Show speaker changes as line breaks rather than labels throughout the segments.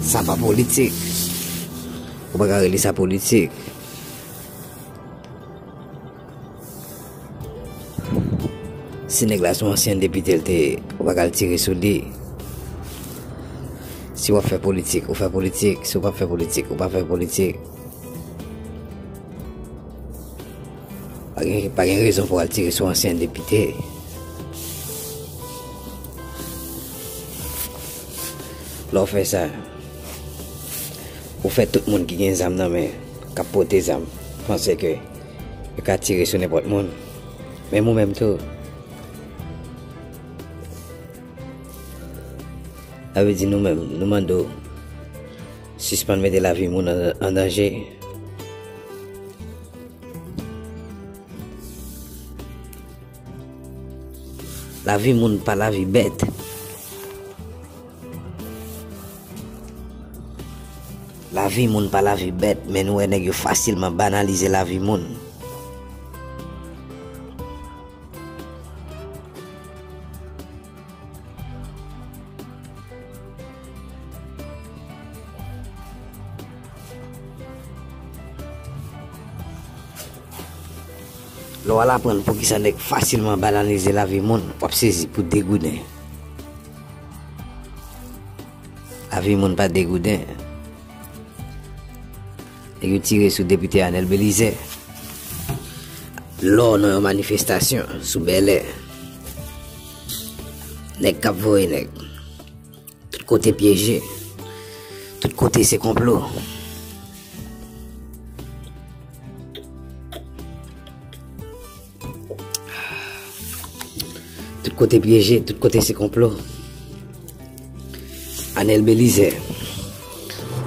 Sa pa politik. Ou pa ka rele sa politik. Si nèg la son ansyen depite l te, ou pa ka al tire sou li. Si w ap fè politik, ou fè politik. Si w pa fè politik, ou pa fè politik. Pa gen rezon pou al tire sou ansyen depite. Lè w fè sa, ou fè tout moun ki gen zam nan men, k ap pote zam, panse ke yo ka tire sou nenpòt moun, menm ou menm tou. Sa vle di nou menm, nou mande w sispann mete lavi moun an danje. Lavi moun pa lavi bèt. Lavi moun pa lavi bèt men nou wè nèg yo fasilman banalize lavi moun. Lè w al aprann poukisa nèg fasilman banalize lavi moun, w ap sezi pou degouden. Lavi moun pa degouden. Nèg yo tire sou Depite Anel Belize. Lò nan yon manifestasyon sou Bèlè. Nèg k ap voye nèg. Tout kote pyeje. Tout kote se konplo. Tout kote pyeje. Tout kote se konplo. Anel Belize.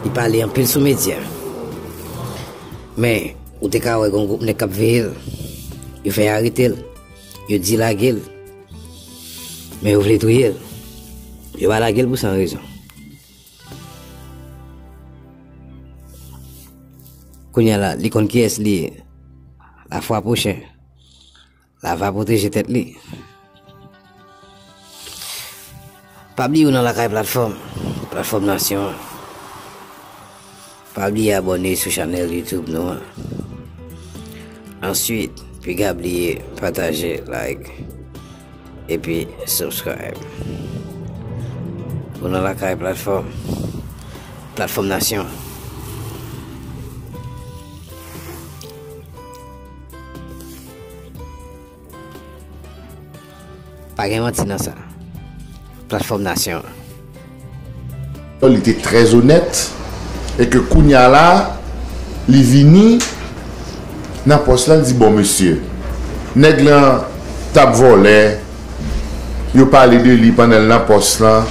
Li pale an pil sou medya. Men, ou te ka wè gon goup ne kap veyel. Yo fè arete l. Yo di lage l. Men yo vle touye l. Yo pa lage l pou san rezon. Kounye la, li konn ki es li ye. La fwa pwochen. La va pwoteje tet li. Pa bliye ou nan lakay platfòm Platfòm nasyon an Pa bliye abòne sou chanèl youtube nou an Answit piga bliye pataje like Epi subscribe Ou nan lakay platfòm Platfòm nasyon an Pa gen manti nan sa. Platfòm nasyon
an. Li te trè zonèt e ke kounye a la li vini nan pòs la li di bon mesye nèg lan t ap vòlè yo pale de li pandan l nan pòs lan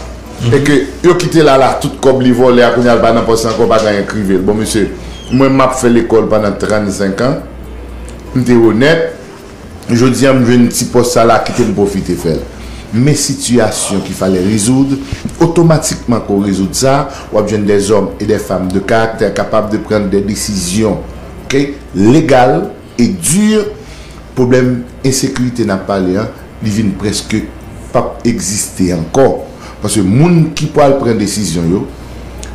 e ke yo kite l al a tout kòb li vòlè a kounye a l pa nan pòs lan ankò pa gen anyen k rive l bon mesye mwen m ap fè lekòl pandan 35 an m te onèt Jodia m jwenn ti pòs sa la kite m pwofite fè l. Men sitiyasyon ki fale rezoud, otomatikman ke w rezoud sa, w ap jwenn dè zòm e dè fam de karaktè kapab de prann dè desizyon ke legal e dur pwoblèm ensekirite n ap pale an li vin preske p ap egziste ankò paske moun ki pwal pran desizyon yo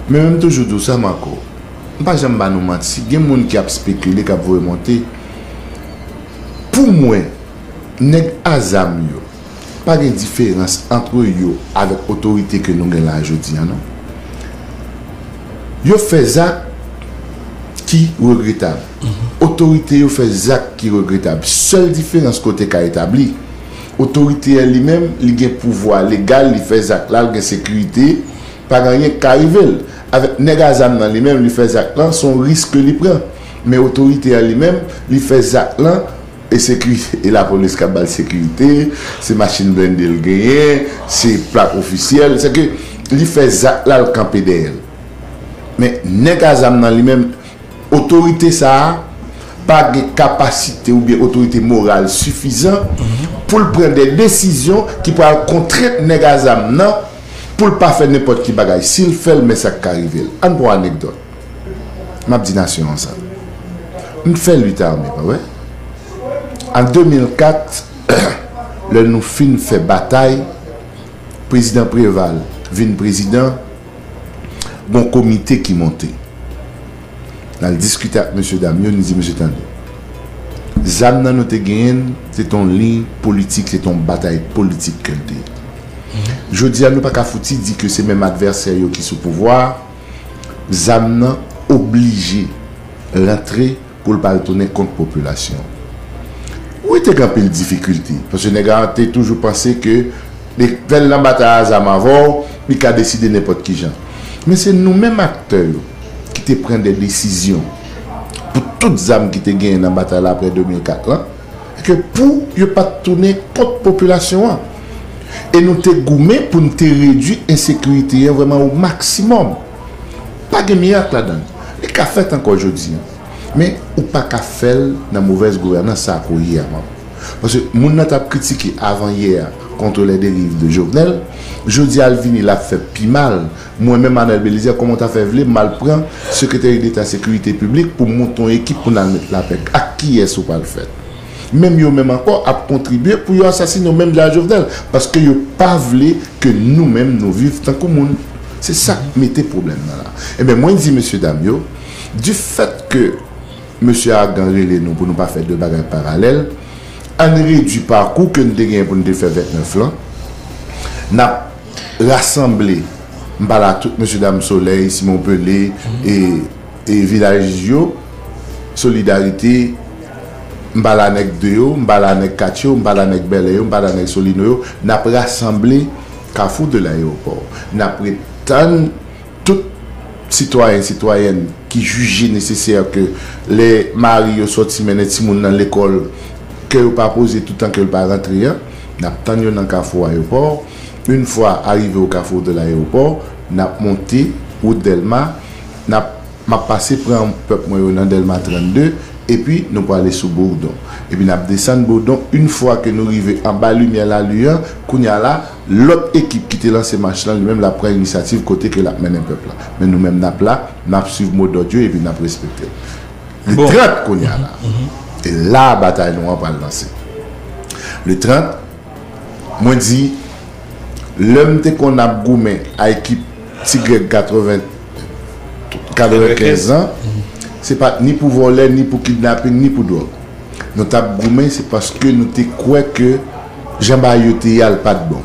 Men mwen m toujou di w sa Marco, m pa janm ba nou manti gen moun ki ap spekile k ap voye monte. Pou mwen, nèg a zam yo, pa gen diferans antre yo avèk otorite ke nou gen la jodi an non. Yo fè zak ki regretab. Otorite yo fè zak ki regretab. Sèl diferans ke w te ka etabli, otorite an li menm, li gen pouvwa legal, li fè zak la, li gen sekirite, pa gen anyen ki ka rive l. Avèk nèg a zam nan li menm, li fè zak lan, se yon risk ke li pran. Men otorite an li menm, li fè zak lan, e se ki e lapolis k ap ba l sekirite, se machin blende l genyen, se plak ofisyèl, se ke li fè zak la l kanpe dèyè l. Men nèg a zam nan li menm, otorite sa a pa gen kapasite oubyen otorite moral sifizan pou l pran de desizyon ki pral kontrent nèg a zam nan pou l pa fè nenpòt ki bagay. Si l fè l men sa k ka rive l. Ann pran anekdòt. Map di nasyon an sa. M fè lit ame pa wè. An 2004 lè nou fin fè batay prezidan Preval vin prezidan gon komite ki monte. Nal diskite ak mesye dam yo nou di mesye tande. Zam nan nou te genyenn se ton liy politik se ton batay politik ke l te ye. Jodi a nou pa ka fouti di ke se menm advèsè yo ki sou pouvwa a. Zam nan oblije rantre pou l pa al tounen kont popilasyon an. Wi te gen anpil difikilte, paske nèg la te toujou panse ke li fè l nan batay a zam avè w, li ka deside nenpòt ki jan. Men se nou menm aktè yo ki te pran de desizyon pou tout zam ki te genyen nan batay la aprè 2004 lan. e ke pou yo pa t tounen kont popilasyon an. E nou te goumen pou n te redui ensekirite an vrèman o maksimòm. Pa gen mirak ladan l. Li ka fèt ankò jodi an. Men, ou pa ka fè l nan movèz gouvènans sa a ke w ye a, Map. Paske moun nan t ap kritike avan yè a contre les dérives de Jovenel, jodi a l vini l ap fè pi mal Mwen menm Arnel Belizaire kòman w ta fè vle m al pran Secretary d'Etat Securite Public pou m monte yon ekip pou n al met lapè ak kiyès ou pral fèt? Menm yo menm ankò ap kontribye pou yo asasine w menm jan a Jovenel paske yo pa vle ke nou menm nou viv tankou moun. Se sa k mete pwoblèm nan la. Enben mwen di mesye dam yo du fèt ke Mesye Argan rele nou pou nou pa fè de bagay paralèl ann redwi pakou ke n te genyen pou n te fè 29 lan n ap Rasanble, m pale a tout mesye dam Solèy, Simon Pele e Vilaj yo, Solidarite, m pale a nèg 2 yo, m pale a nèg 4 yo, m pale a nèg Bèlè yo, m pale a nèg Solino yo, n ap rasanble Kafou de Layewopò. N ap ret tann tout sitwayen, sitwayèn ki jije nesesè ke lè mari yo sòti mennen timoun nan lekòl, kè yo pa poze toutan ke l pa rantre an, n ap tann yo nan Kafou Ayewopò. Yn fwa arive au carrefour de l'aéroport nap monte wout delma nap map pase pran pèp mwen yo nan delma 32 epi nou prale sou bourdon epi nap desann bourdon yn fwa ke nou rive anba limyè lalu an kounya la lòt ekip ki te lanse mach lan li menm lap pran inisyativ kote ke lap mennen pèp la men nou menm nap la nap swiv mo dòd yo epi nap respektel le 30 kounya la e la batay nou an pral lanse le 30. Mwen di, lè m te konn ap goumen a ekip Ti Grèg 95 an, se pa t ni pou vòlè, ni pou kidnaping, ni pou dwòg. Nou t ap goumen se paske nou te kwè ke jan bagay yo te ye a l pa t bon.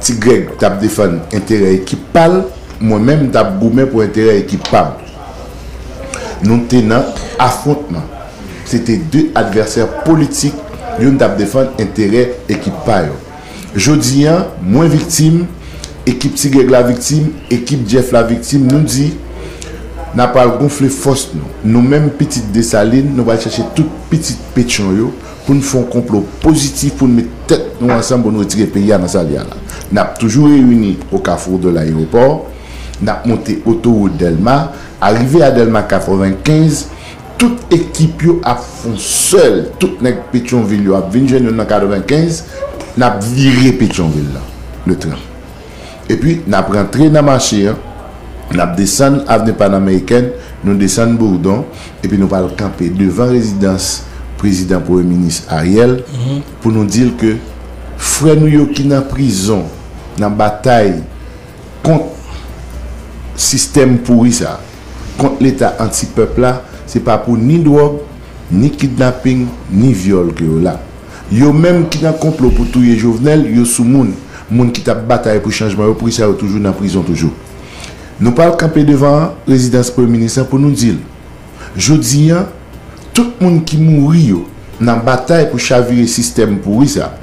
Ti Grèg t ap defann enterè ekip pa l, mwen menm m t ap goumen pou enterè ekip pa m. Nou te nan afwontman. Se te de advèsè politik, youn t ap defann enterè ekip pa yo. Jodi a, mwen viktim, ekip Ti Grèg la viktim, ekip Jeff la viktim, nou di, N a pral gonfle fòs nou. Nou menm pitit Desalin, nou pral chèche tout pitit Petyon yo pou n fè yon konplo pozitif pou n met tèt nou ansanm pou n retire peyi a nan sa l ye a la. N ap toujou reyini o Kafou de l Ayewopò. N ap monte otowout Dèlma, arive a Dèlma 95, tout ekip yo ap fon sèl, tout nèg Petyonvil yo ap vin jwenn nou nan 95, n ap vire Petyonvil lan, le 30. Epi, n ap rantre nan mache an, n ap desann avni Panamerikèn, nou desann Bourdon, epi nou pral kanpe devan rezidans Prezidan Premye Minis Ariel pou nou di l ke frè nou yo ki nan prizon, nan batay, Kont sistèm pouri sa. Kont leta anti pèp la se pa pou ni dwòg, ni kidnaping, ni vyòl ke yo la. Yo menm ki nan konplo pou touye Jovenel yo sou moun. Moun ki tap batay pou chanjman yo poukisa yo toujou nan prizon toujou. Nou pral kanpe devan rezidans premye minis lan pou nou dil. Jodi an tout moun ki mouri yo nan batay pou chavire sistèm pouri sa.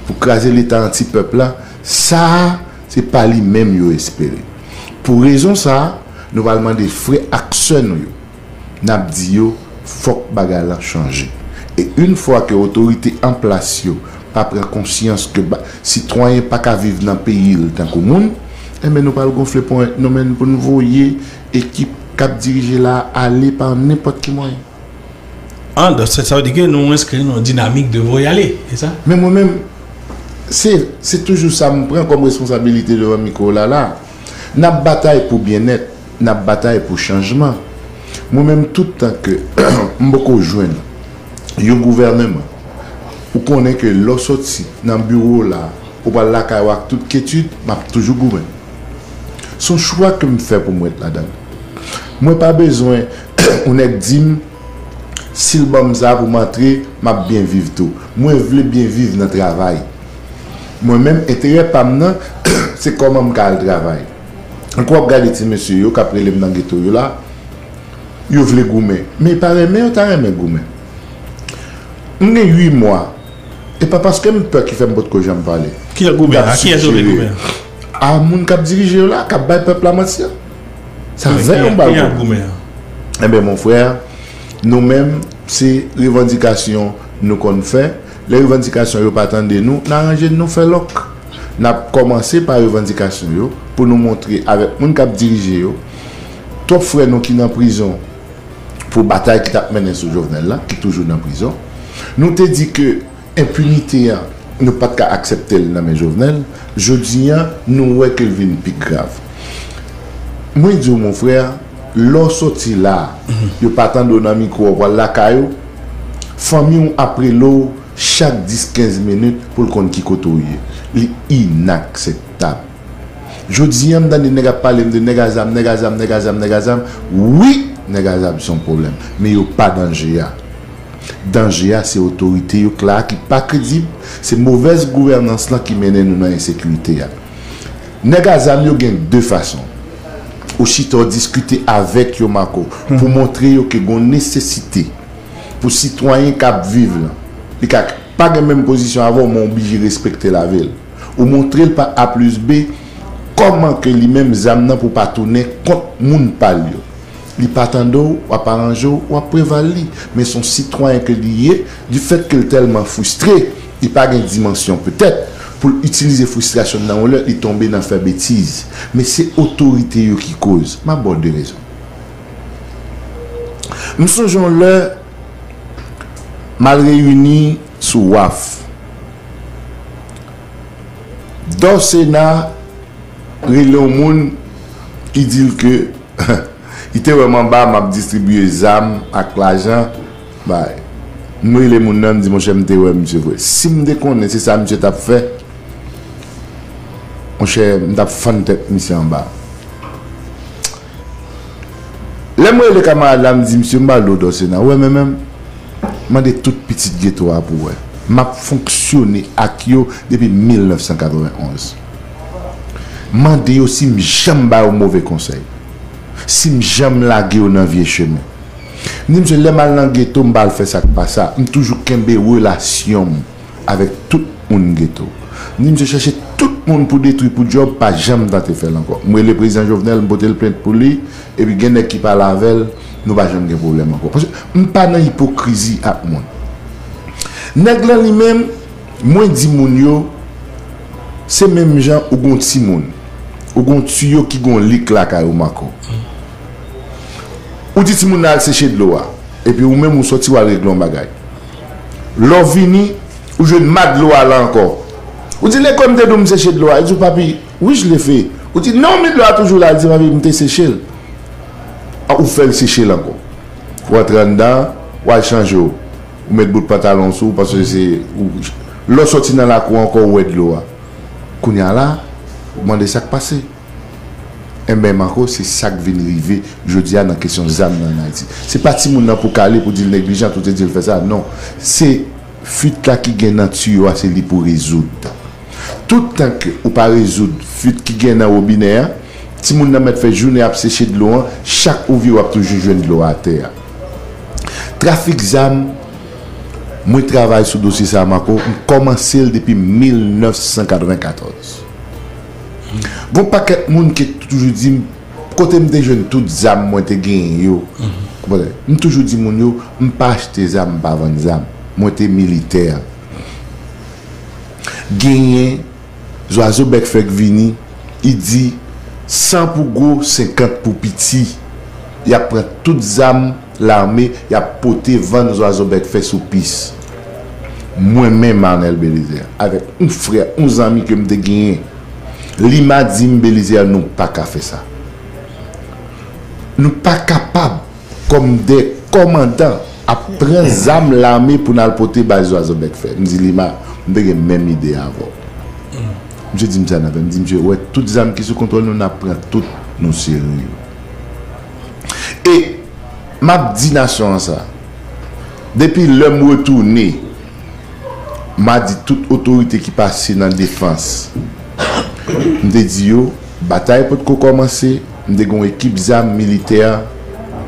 Pou kraze leta anti pèp la sa Se pa li menm yo espere. Pou rezon sa a, nou pral mande frè ak sè nou yo. N ap di yo fòk bagay lan chanje. E yn fwa ke otorite an plas yo pa pran konsyans ke ba sitwayen pa ka viv nan peyi l tankou moun, enben nou pral gonfle ponyèt nou men n pou n voye ekip k ap dirije la a ale pa nenpòt ki mwayen. An,
dò se sa ou di ke nou enskri nan yon dinamik de voyale, se sa? Men mwen menm,
se, se toujou sa m pran kòm responsabilite devan mikwo la la. N ap batay pou byennèt, n ap batay pou chanjman. Mwen menm tout tan ke m poko jwenn yon gouvèneman, ou konnen ke lè w sòti nan biwo w la, ou pral lakay ou ak tout kyetid, m ap toujou goumen. S on chwa ke m fè pou m ret ladan l. Mwen pa bezwen. yon nèg dim sil banm sa pou m antre map byen viv tou mwen vle byen viv nan travay mwen menm enterè pam nan se kòman m ka al travay ank wap gade ti mesye yo kap relem nan geto yo la yo vle goumen men yo pa renmen yo ta renmen goumen m gen 8 mwa e pa paske m pè ki fèm potko janm pale. Ki sa goumen an? A kiyès
yo vle goumen an? A moun
kap dirije yo la kap bay pèp la manti an. Sa zen yon bal goumen.
Enben mon
frè, nou menm se revandikasyon nou konn fè. Lè revandikasyon yo pa tande nou, nan ranje n nou fè lòk. N ap kòmanse pa revandikasyon yo pou nou montre avèk moun k ap dirije yo. Twòp frè nou ki nan prizon pou batay ki t ap mennen sou Jovenel la, ki toujou nan prizon. Nou te di ke Enpinite a nou pat ka akseptel nan men Jovenel, jodi a nou wè ke l vin pi grav. Mwen di w mon frère, lè w soti la, yo pa tande w nan mikwo w pwal lakay ou, fanmi w ap rele w chak 10, 15 minit pou l konn ki kote w ye. Li inakseptab. Jodi a m tande nèg ap pale m de nèg a zam, nèg a zam, nèg a zam, nèg a zam, wi nèg a zam se yon pwoblèm, men yo pa danje a. Danje a se otorite yo k la a ki pa kredib, se movèz gouvènans lan ki mennen nou nan ensekirite a. Nèg a zam yo gen de fason. Ou chita w diskite avèk yo Marco pou w montre yo ke gon nesesite pou sitwayen k ap viv lan, li ka pa gen menm pozisyon avè w men w blije respekte lavi l. Ou montre l pa A plis B kòman ke li menm zam nan pou pa tounen kont moun pa l yo. Li pa tande w, w ap aranje w, w ap preval li. Men son sitwayen ke li ye, di fèt ke l tèlman fristre, li pa gen dimansyon petèt, pou l itilize fristrasyon l nan yon lè, li tonbe nan fè betiz. Men se otorite yo ki koz. M ap ba w de rezon. M sonje yon lè, m al reyini sou waf. Dò Sena rele yon moun, li di l ke. Li te wè m anba m ap distribiye zam ak lajan bay. M rele moun nan m di monchè m te wè misye vre. Si m te konnen se sa misye t ap fè, monchè m t ap fann tèt misye anba. Lè m rele kamarad la m di misye m pral di w Dòsena, ou wè men men m? Mande tout pitit geto a pou w wè. M ap fonksyone ak yo depi 1991. Mande yo si m janm ba yo move konsèy. Si m janm lage yo nan vye chemen. M di misye lè m al nan geto m pa al fè sa k pa sa. M toujou kenbe relasyon m avèk tout moun geto. M di misye chèche tout moun pou detwi pou djòb pa janm tante fè l ankò. M rele prezidan Jovenel m pote l plent pou li epi gen nèg ki pale avè l nou pa janm gen pwoblèm ankò. Paske m pa nan ipokrizi ak moun. Nèg lan li menm. Mwen di moun yo, se menm jan ou gen yon timoun, ou gen yon tiyo ki gen yon lik lakay ou Marco. Ou di timoun nan al seche dlo a, epi ou menm ou sòti wal regle yon bagay. Lè w vini, ou jwenn ma dlo a la ankò. Ou di lekòl m te di w m seche dlo a, li di w papi, wi je l'ai fait. Ou di non men dlo a toujou la, li di papi m te seche l. Ou fè l seche l ankò. Ou antre anndan, wal chanje w. Ou met bout pantalon w sou w paske se ou lè w soti nan lakou an ankò ou wè dlo a kounya la ou mande sak pase enben Marco se sak vin rive jodia nan kesyon zam nan an Ayiti se pa timoun nan pou kale pou di l neglijant ou te di l fè sa non se fuit la ki gen nan tiyo a se li pou rezoud tout tan ke ou pa rezoud fuit ki gen nan wobinè a timoun nan mèt fè jounen ap seche dlo an chak ou vire w ap toujou jwenn dlo a atè a. Trafik zam, mwen travay sou dosye sa Marco, m kòmanse l depi 1994. Gon pakèt moun ki toujou di m kote m te jwenn tout zam mwen te genyen yo. M toujou di moun yo, m pa achte zam, m pa vann zam. Mwen te militè. Genyen. Zwazo bèk fèk vini, i di, San pou gwo, senkant pou piti! Y ap pran tout zam lame, y ap pote vann Zwazo bèk fè sou pis. Mwen menm, Arnel Bélizaire, avèk oun frè, oun zanmi ke m te genyen, Lima di m, Bélizaire, nou pa ka fè sa. Nou pa kapab! Kòm 2 kòmandan ap pran zam lame pou n al pote bay Zwazobèk fè. M di Lima, m te gen menm ide a avè w. Misye di m sa nan vè, m di misye, ou wè tout zam ki sou kontwòl nou, n ap pran tout, nou sere yo. E m ap di nasyon an sa, depi lè m retounen, m a di tout otorite ki pase nan defans, m te di yo, batay potko kòmanse, m te gen yon ekip zam militè,